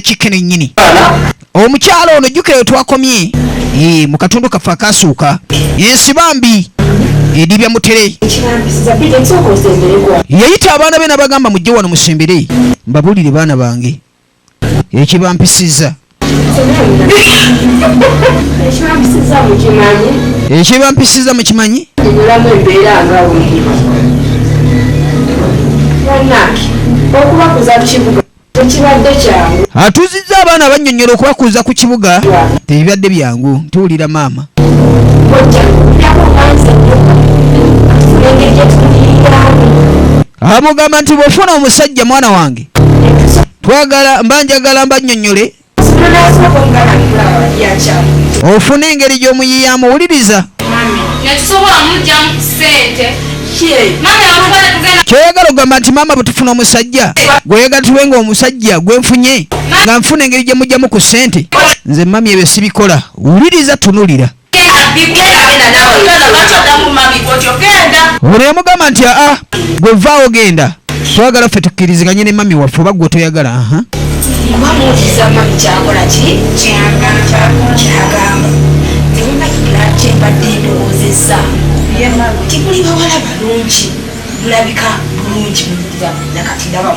kike nenyini omukyalo ono jukeyo twakomye ee mukatundu kaffe akasuuka ensi bambi edibya mutere yeyita abaana be nabagamba mujje wano musembere mbabulire baana bange ekibampisiza ekibampisiza mukimanyi okubakuza kibuga tekibadde kyangu. Atuuzizza abaana abannyonnyola okubakuuza ku kibuga tebibadde byangu. Tuwulira maama. Amugamba nti bw'ofuna omusajja mwana wange twagala mba njagala mbannyonnyole ofuna engeri gy'omuyiyamu wuliriza kyoyagala okugamba nti maama bwetufuna omusajja gweyagala tube nga omusajja gwenfunye nga nfuna engeri gyemujjamu ku ssente nze mami ebyo sibikola wuliriza tunulira buli emugamba nti aa gwe vaawo genda twagala ffe tukkiriziganye ne mami waffe oba gwe toyagala aha tibuli bawala balungi bulabika bulungi nakati ndaba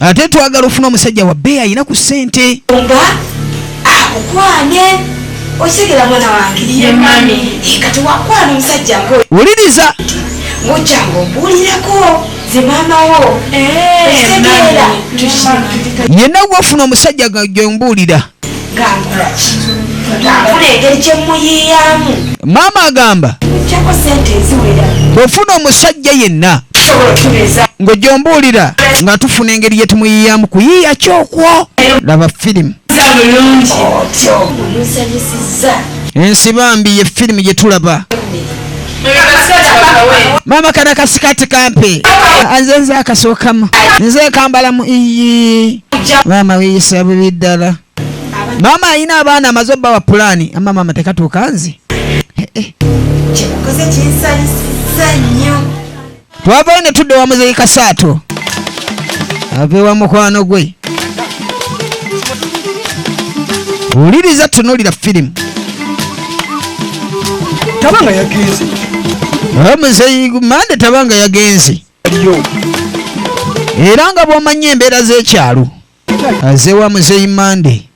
ate twagala ofuna omusajja wa bbeeyi alina ku ssente wuliriza yenna gwofuna omusajja gwe mbuulira maama agamba bwofuna omusajja yenna ng'ojombuulira nga tufuna engeri gye tumuyiyamu kuyiiya kyokwo laba firimu ensi bambi ye firimu gye tulaba mama kana kasikati kampi anze nze akasokamu nze kambala mu iyi mama wiyisa bubi ddala mama ayina abaana amaze obba wa pulani ama mama tekatuuka nze eh, eh. twavayo ne tudda wa muzeeyi kasaato ave wa mukwano gwe wuliriza tunulira firimu tabanga yagenze omuzeeyi mande tabanga yagenze era nga bw'omanya embeera z'ekyalo aze wa muzeyi mande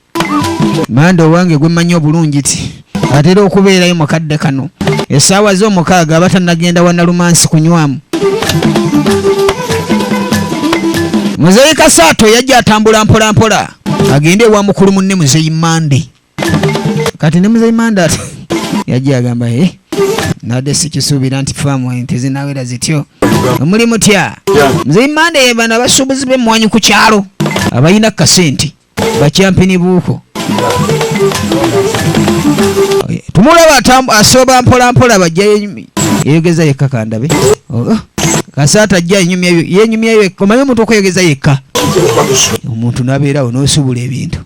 mande owange gwemanyi obulungi ti atera okubeerayo mu kadde kano esaawa z'omukaaga aba tanagenda wanalumansi kunywamu muzeyi kasaato yajja atambula mpolampola agende ewa mukulu munne muzeyi mande kati ne muzeyi mandat yajja agamba he eh, nabadde sikisuubira nti faamu ente zinawera zityo omuli mutya muzeyi manda ye bano abasuubuzi b'emmwanyi ku kyalo abalina kasente bakyampini buuko tumulaba asooba mpolampola bajjayo yeyogeza yekka kandabe oh, oh. kasaata ajja yenyumyayo yekka omanyi omuntu okweyogeza yekka omuntu nabeerawo nosubula ebintu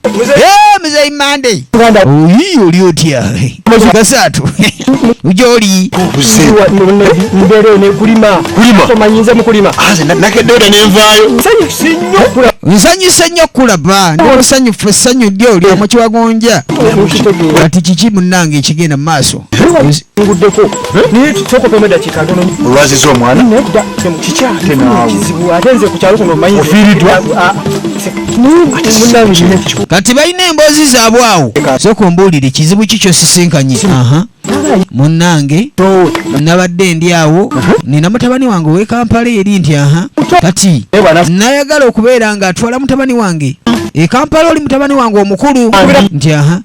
muzeyi mande oyi oli otya kasaatu ujoli nsanyuse nnyo kulaba ndi musanyufu essanyu lyo lya mukiwagonja kati kiki munange ekigenda mu maaso nguddeko naye kyokopamu eddakiika ntono olwaziza omwana nedda kikyatekizibu ate nze ku kyalo kuno manyi ofiiriddwa kati balina emboozi zaabwe awo soka ombuulire kizibu ki kyosisinkanye munnange nabadde ndi awo nina mutabani wange owekampala eri nti aha kati nayagala okubeera nga atwala mutabani wange ekampala oli mutabani wange omukulu nti aha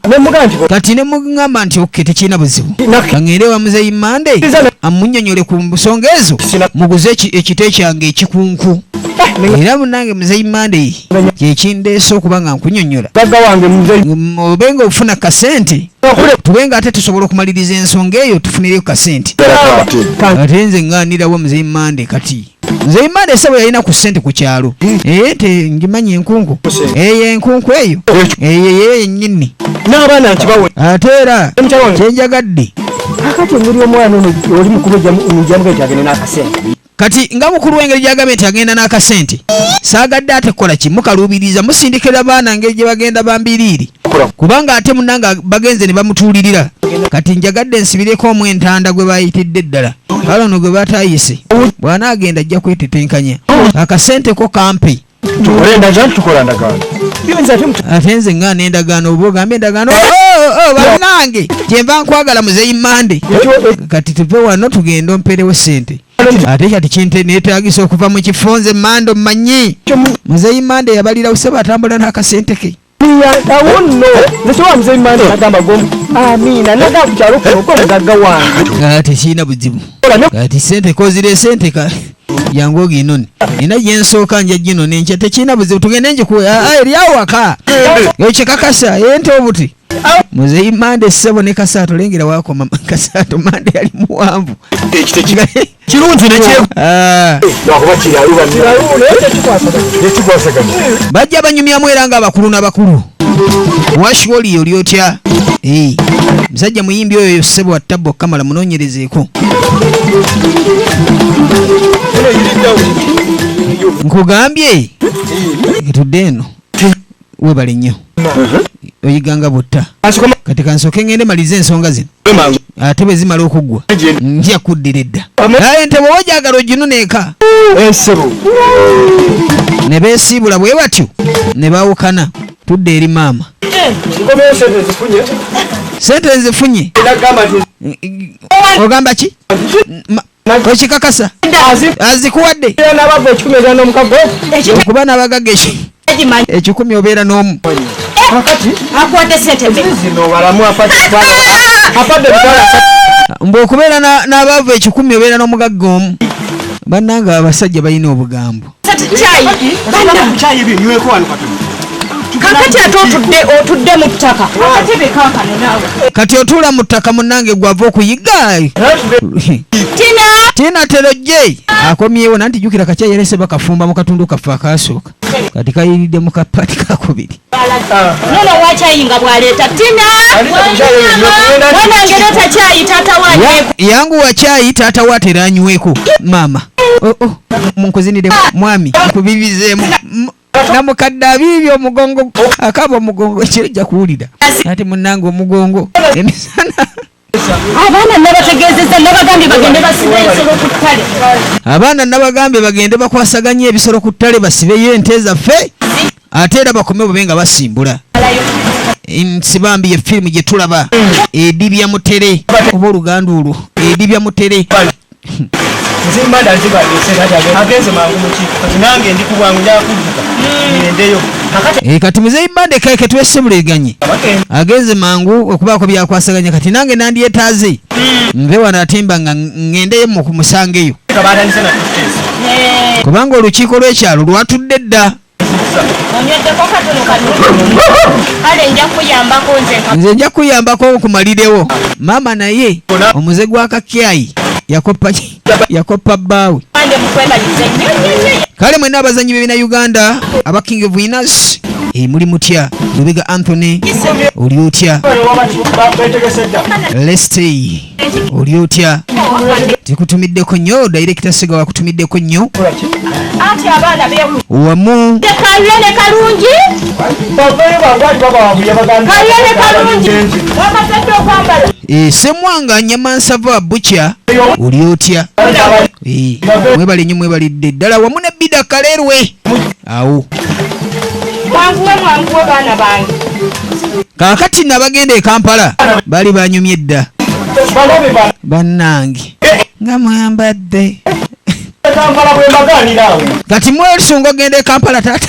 kati ngamba nti oke tekirina buzibu aŋende wa muzeyi mande amunyonyole ku nsonga ezo muguze ekite kyange ekikunku eh, era munange muzeyi mande kyekindeese okuba nga nkunyonyola obe nga okufuna kasente tube nga ate tusobola okumaliriza ensonga eyo tufunireyo kasente ate nze ŋanirawo muzeyi mande kati nze imana esebo yalina ku sente ku kyalo hmm. eh, te ngimanyi enkunku eyo enkunku eyo eyo eyo yenyini n'abaana nkibawe ate era kyenjagadde akati engeri omwana ono oli mukulu omujamuka nti agende n'akasente kati nga mukulu wengeri gyagambye nti agenda n'akasente saagadde ate kukola ki mukaluubiriza musindikira baana ngeri gye bagenda bambiriiri kubanga ate munanga bagenze ne bamutuulirira kati njagadde nsibireko omu entanda gwe bayitidde ddala kale ono gwe batayise bw'anaagenda ajja kwetetenkanya akasente ko kampi ate nze nga nendagaano oba ogamba endagaano oh, oh, oh, banange kyenva nkwagala muzeyi mande kati tuve wano tugende omperewo sente ate kati kinte netagisa okuva mu kifo nze mande omanyi muzeyi mande yabalira usaba atambula n'akasente ke tekirina buzibu kati sente kozire sente ka yangu ogino ni nina gyensooka nja gino nenkya tekirina buzibu tugende njikuwe eri awaka ekyekakasa ente obuti muzeyi mande ssebo ne kasaato lengera wakoma kasaato mande yali muwanvu kirungi ah. bajja banyumyamu era nga abakulu nabakulu washwoli oli otya eh. musajja muyimbi oyo yo ssebo attabbo kamala munonyerezeeko nkugambye etudde eno webale nnyo oyiganga butta kati kansooke ngende malize ensonga zino ate bwe zimala okuggwa nja kuddira edda aye nte bwoba gyagala oginuna eka ne beesiibula bwe batyo ne bawukana tudde eri maama sente nzifunye ogamba ki okikakasa azikuwadde okuba nabagaga ekikumi obeera n'omu mbu okubeera n'abaavu ekikumi obeera n'omugagga omu bannanga abasajja balina obugambo kakati ate otudde otudde mu ttaka akatebe kakano naawe kati otuula mu ttaka munange gwava okuyigga tina tina terojje akomyewo nanti jukira kakya yerese bakafumba mu katundu kaffe akaasooka kati kayiridde mu kapati kakubiri nono wakyayinga bwaleeta tina wanange leta kyayi taata wa yangu wakyayi taata wa teranyweko maama oh, oh. munkuzinire mwami nkubibizemu namukadde abiibi omugongo akaba omugongo kyojja kuwulira ati munange omugongo emisana abaana nabategeezeza nabagambye bagende basibe ensolo ku ttale abaana nabagambye bagende bakwasaganye ebisolo ku ttale basibeyo ente zaffe ate era bakome bube nga basimbula nsibambi ye firimu gye tulaba edibya mutere oba oluganda olwo edibya mutere eh, kati muzeyi bande keke twesibuliriganye agenze mangu okubaako byakwasaganya kati nange nandyetaaze hmm. nve wano atemba nga ngendeyo mukumusangeyo kubanga olukiiko lw'ekyalo lwatudde dda nze nja kuyambako okumalirewo maama naye omuze gwa kakyayi yakoppa bbaawe kale mwena abazanyi bebina uganda aba king of winners eh, muli mutya lubega anthony oli otya lestay oli otya tekutumiddeko nnyo dayirekita siga wakutumiddeko nnyo wamu eh, semwanga nyama nsava bukya oli otya eh, mwebale nnyo mwebalidde ddala wamu ne bida kalerwe awo mwanguwe mwanguwe baana bange kaakati nabagenda ekampala bali banyumye dda bannange nga mwambadde kati mwesunga ogenda ekampala taata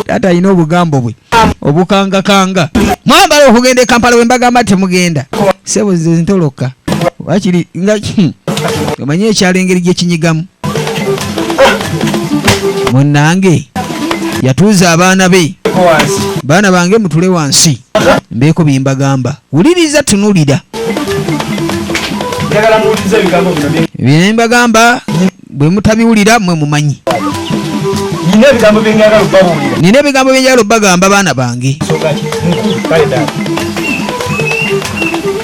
taata alina obugambo bwe obukangakanga mwambala okugenda ekampala wembagamba temugenda sebo ze ntoloka wakiri nga hmm. omanyi ekyalo engeri gyekinyigamu munnange yatuuza abaana be baana bange mutule wansi mbeeko bye mbagamba wuliriza tunulira bye mbagamba bwe mutabiwulira mwe mumanyi nina ebigambo byenjagala obabuulira nina ebigambo byenjagala obagamba baana bange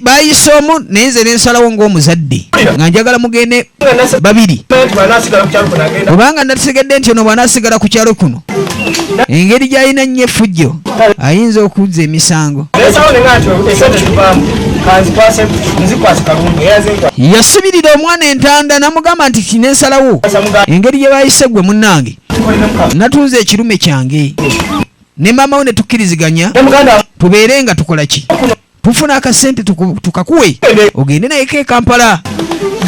bayise omu naye nze nensalawo ngaomuzadde nga njagala mugende babiri obanga nategedde nti ono bwanasigala ku kyalo kuno engeri gyalina nnyo efujjo ayinza okuzza emisango yasibirira omwana entanda namugamba nti kinensalawo engeri gye bayise gwe munnange natunze ekirume kyange ne maama wo ne tukkiriziganya tubeere nga tukola ki tufuna akasente tukakuwe ogende nayeko ekampala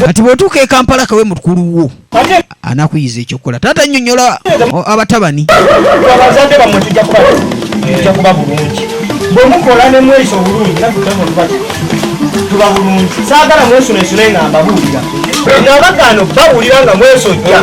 kati bwotuuka ekampala kawe mukulu wo anakuyiza ekyokukola taata nyonyola abatabani bwemukola nemwesa obulungi tuba bulungi saagala mwesunesune nga mbabuulira nabagaano bawulira nga mwesojja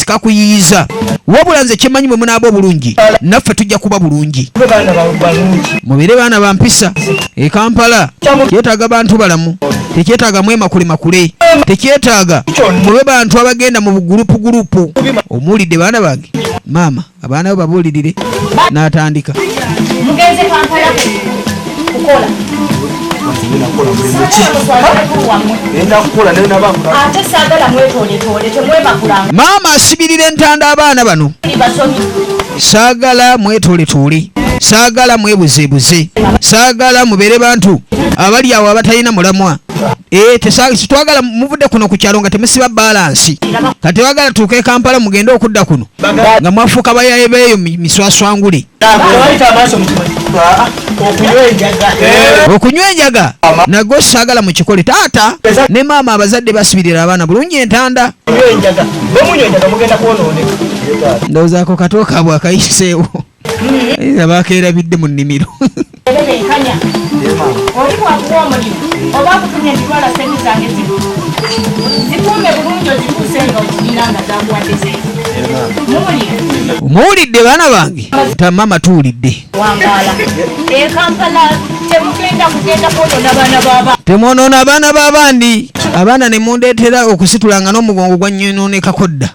tikakuyiyiza wabula nze kyemanyi bwe munaaba obulungi naffe tujja kuba bulungi mubeere baana ba mpisa e kampala kyetaaga bantu balamu tekyetaaga mwemakule makule tekyetaaga mube bantu abagenda mu bugulupu gulupu omuwulidde baana bange maama abaana bo babuulirire n'atandika mugenze kampala kukola maama asibirira entanda abaana bano saagala mwetooletoole saagala mwebuzeebuze saagala mubeere bantu abali awo abatalina mulamwa eh, tetwagala muvudde kuno ku kyalo nga temusiba balansi kati wagala tuuka e kampala mugende okudda kuno nga mwafuuka bayaye beeyo miswaswangule okunywa enjaga nago saagala mu kikole taata ne maama abazadde basibirira abaana bulungi entanda ndowoozaako katooka bwakayiseewo abaakeerabidde mu nnimiro muwulidde baana bange tamama tuwulidde temwonoona abaana b'abandi abaana ne mundeetera okusitulanga n'omugongo gwa nyonoonekako dda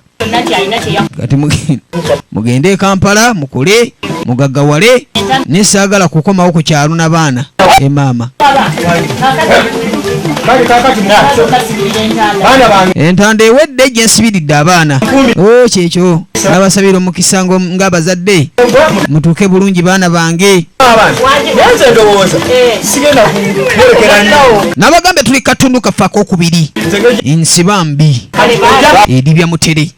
kati mugende e kampala mukule mugagawale naye saagala kukomawo ku kyalo na baana e maama entanda ewedde gye nsibiridde abaana o oh, kyekyo nabasabira omukisa ng'abazadde mutuuke bulungi baana bange nabagambye tuli katundu kaffe akokubiri nsiba mbi edibya mutere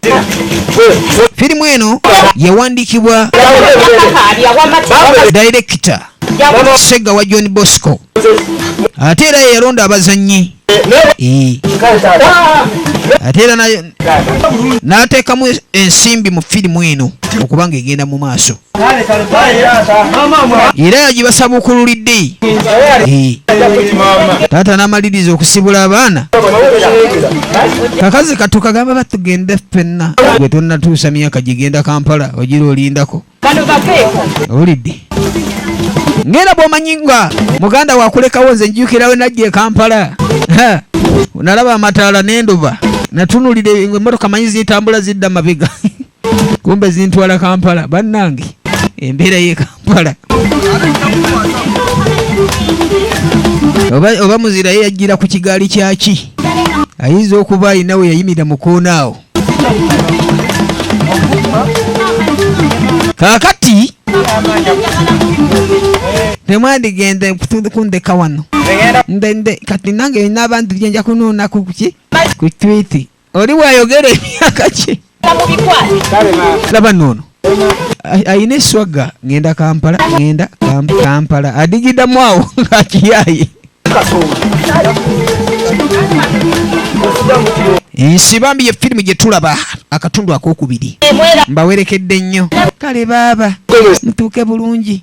firimu eno yawandiikibwa dayirekita sega wa john bosco ate era yeyalonda abazannyi ate era n'ateekamu ensimbi mu firimu eno okubanga egenda mu maaso era yagibasabukululidde taata n'amaliriza okusibula abaana kakazi katukagamba batugende ffenna gwe tonnatuusa myaka gigenda kampala ogira olindako olidde ngera bwomanyi nga muganda wakulekawo nze njukirawe najja ekampala nalaba amataala nenduba natunulira emotoka manyi zitambula zidda mabega kumbe zintwala kampala bannange embeera ye kampala oba, oba muzira ye yajjira ku kigaali kyaki ayinza okuba alina we yayimira mu koona awo kakati temwandigenda kundeka wano kati nange nina abantu byenja kunuunaku kuki ku twiti oli bwayogera emyaka kye laba noono ayina eswagga ngenda kampala ngenda kampala adigidamu awo ngakiyaye ensi bambi ye firimu gye tulaba akatundu akokubiri mbawerekedde nnyo kale baaba mutuuke bulungi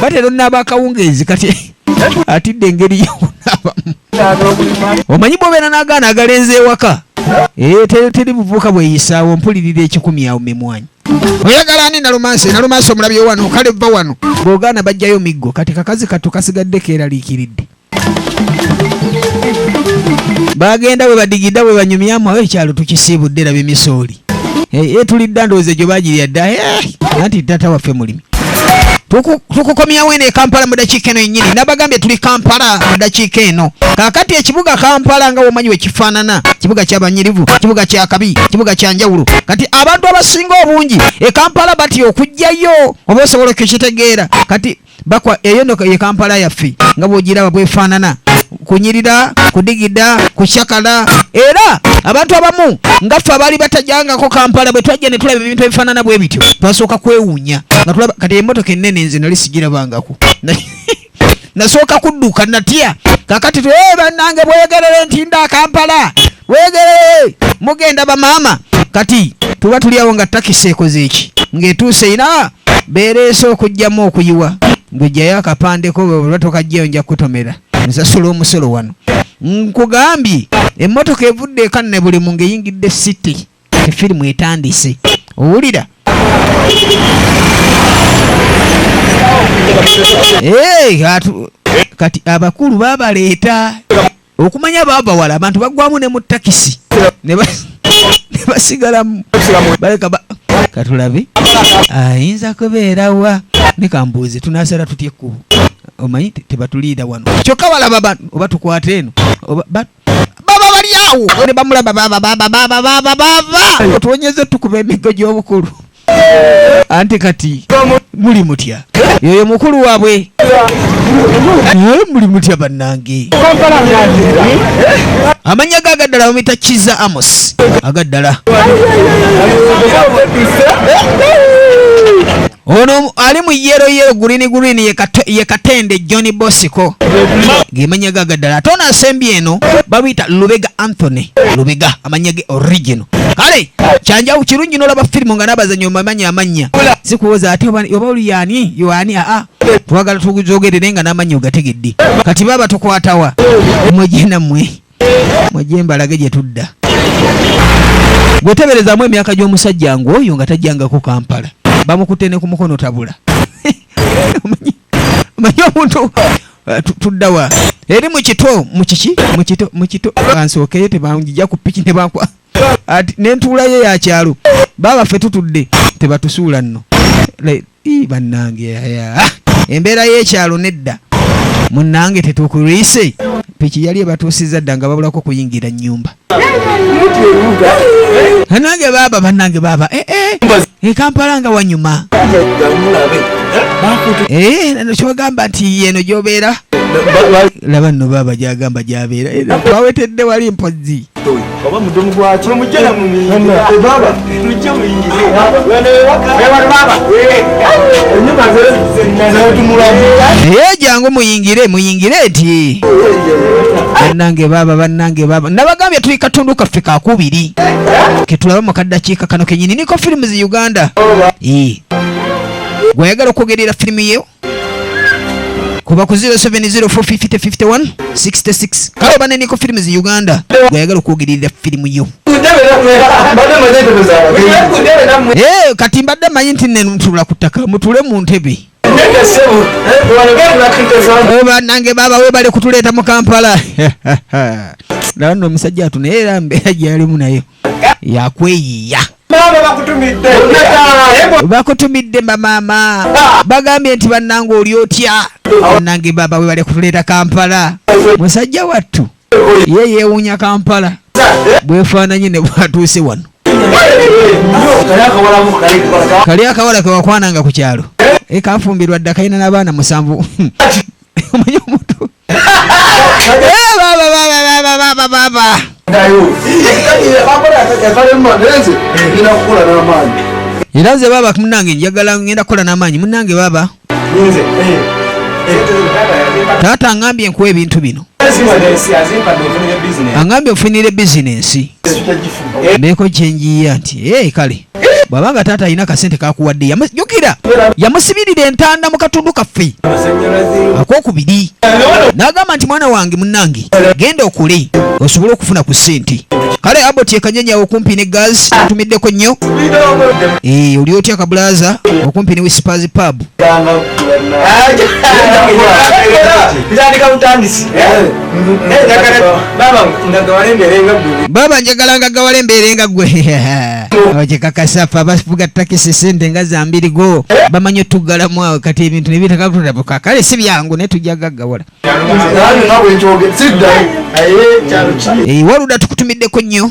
batera onaaba akawungeezi kati atidde engeri yokunaabamu omanyi bwobeera n'agaana agalenza ewaka eh, teri buvuuka bweyisaawo mpulirira ekikumi awo memwanyi oyagala ani nalumansi nalumansi omulabye wano kale vva wano bwogaana bajjayo miggo kati kakazi kattu kasigadde keeraliikiridde bagenda bwe badigidda bwe banyumyamu awo ekyalo tukisiibudde laba emisooli eh, eh, tulidda ndowooza egyo bagirya dda eh, anti tata waffe mulimi tukukomyawo eno ekampala mu dakiika eno yenyini nabagambye tuli kampala mu dakiika eno kakati ekibuga kampala nga womanyi wekifaanana kibuga kyabanyirivu kibuga kyakabi kibuga kyanjawulo kati abantu abasinga obungi ekampala batya okujjayo oba osobola okukitegeera kati bakwa eyo no ye kampala yaffe nga bwogiraba bwefaanana kunyirira kudigida kucakala era abantu abamu nga ffe abaali batajangako kampala bwe twajja ne tulaba ebintu ebifaanana bwe bityo twasooka kwewuunya nga tulaba kati emotoka ennene nze nali sigirabangako nasooka kudduka natya kakati twe eh, bannange bweyogerere nti nda kampala wegeree mugenda bamaama kati tuba tuli awo nga takisi ekoze eki ng'etuuse ina beereese okugyamu okuyiwa ng'ojjayo akapandeko bwebulwa tokajjayo nja kutomera nsasula omusolo wano nkugambye emmotoka evudde ekanne buli mu ng'eyingidde city efirimu etandise owulira kati abakulu babaleeta okumanya baabawala abantu bagwamu ne mu takisi ne basigalamu baleka katulabe ayinza kubeera wa ne kambuuze tunaasala tutya ekkubo omanyi tebatuliira wano kyokka balaba ba oba tukwata eno baba bali awo ne bamulaba baba baba baba baba baba otuwonyeze tukuba emigo gy'obukulu anti kati muli mutya yoyo mukulu wabwe muli mutya bannange amannya ge agaddala bamuyita kiza amos agaddala ono ali mu yero yero gurini gurini ye katende john bosiko gemanya gaga ddala ate ono asembye eno babiyita lubega anthony lubega amanya ge original kale kyanjawo kirungi nolaba firimu nga nabazanyo mamanya amanya sikuwoza ate oba oli yani yoani aa twagala tuzogerere nga namanya ogategedde kati baba tukwatawa mwejena mwe mweje mbalage gyetudda gweteberezamu emyaka gyomusajja ngu oyo nga tajjangako kampala bamukute ne kumukono tabula omanyi omuntu Eh, tudda wa eri mu kito mu kiki mu kito mu kito bansookeyo tebanjija ku piki ne bankwa ati n'entuula ye ya kyalo baaba ffe tutudde tebatusuula nno bannange embeera y'ekyalo nedda munnange tetukuriise piki yali ebatuusizza dda nga babulako kuyingira nnyumba nange baaba banange baaba eh, eh. ekampala nga wanyuma eh, kyogamba nti yeno gyobeera laba nno baaba gyagamba gyabeera wawetedde wali mpozi naye jangu muyingire muyingire eti banange baba banange baba nabagambye tuli katundu kaffe kakubiri ketulaba mu kaddakiika kano kenyini niko firimu zi uganda gweyagala okwogerera firimu yewo kuba ku 0704505051 kale oba neniko firimu zi uganda gweyagala okwogerera firimu yo eh, kati mbadde manyi nti nenutula ku ttaka mutule mu ntebe banange eh, baba webale kutuleeta mu kampala laba no omusajja atu naye era mbeera gyalimu nayo yakweyiya bakutumidde bamaama bagambye nti bannange oli otya nange baba webale kutuleeta kampala musajja wattu ye yewuunya kampala bwefaananye ne bwatuuse wano kali akawala kewakwananga ku kyalo ekafumbirwa dda kalina n'abaana musanvu omanyi omuntu era nze baaba munange njagala ngenda kukola n'amaanyi munange baaba taata angambye nkuwa ebintu bino angambye ofunire bizinensi mbeeko kyenjiya nti kale bwaba nga taata alina kasente kakuwadde yamujukira yamusibirira entanda mu katundu kaffe akokubiri n'agamba nti mwana wange munnange genda okule osobole okufuna ku ssente kale abot ekanyanyawo okumpi ne gas atumiddeko nnyo eh, oli otya kabulaza okumpi ne wisipas pub baba njagala nga gawala embeera enga gwe abakyekakasa fe abafuga takisi sente nga zambirigo bamanyi otugalamu awo kati ebintu nebitakatutabuka kale si byangu naye tujja gaggawala waluda tukutumiddeko nnyo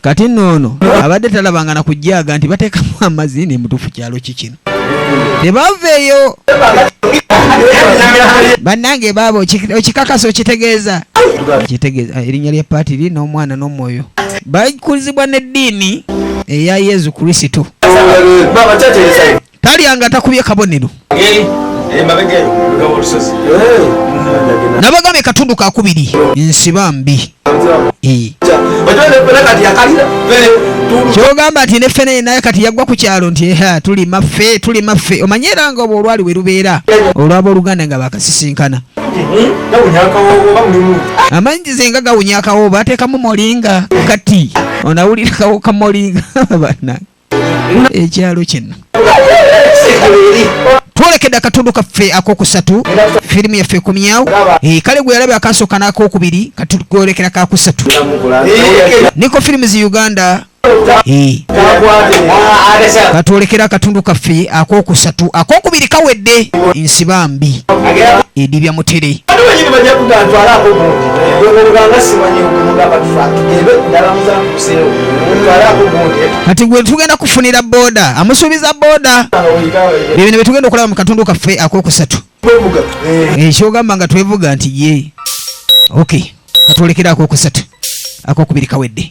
kati nno ono abadde talabanga na kujjaaga nti bateekamu amazi ne mutuufu kyalo ki kino tebaveeyo bannange baaba okikakasa okitegeeza okitegeeza ah, erinnya lya paatiri n'omwana n'omwoyo bakulizibwa n'eddiini eya yezu kristo talya nga takubye kabonero nabagambye katundu kakubiri nsiba mbi kyogamba nti neffe naye naye kati yaggwa ku kyalo nti eha tuli maffe tuli maffe omanye era nga obwo olwali we lubeera olwaba oluganda nga bakasisinkana amanyi ze nga gawunya akawooba ateekamu molinga kati onawulira kawo ka molinga banange ekyalo kino twolekede akatundu kaffe akokusatu firimu yaffe ekomyawo eh, kale gwe yalabe akasooka n'akokubiri katugolekera kakusatu niko firimu zi uganda eh. katwolekera akatundu kaffe akokusatu akokubiri kawedde nsiba mbi edibya mutere kati gwe tugenda kufunira boda amusuubiza boda ebino byetugenda okulaba mu katundu kaffe akokusatu ekyogamba nga twevuga nti ye ok katwolekera akokusatu akokubiri kawedde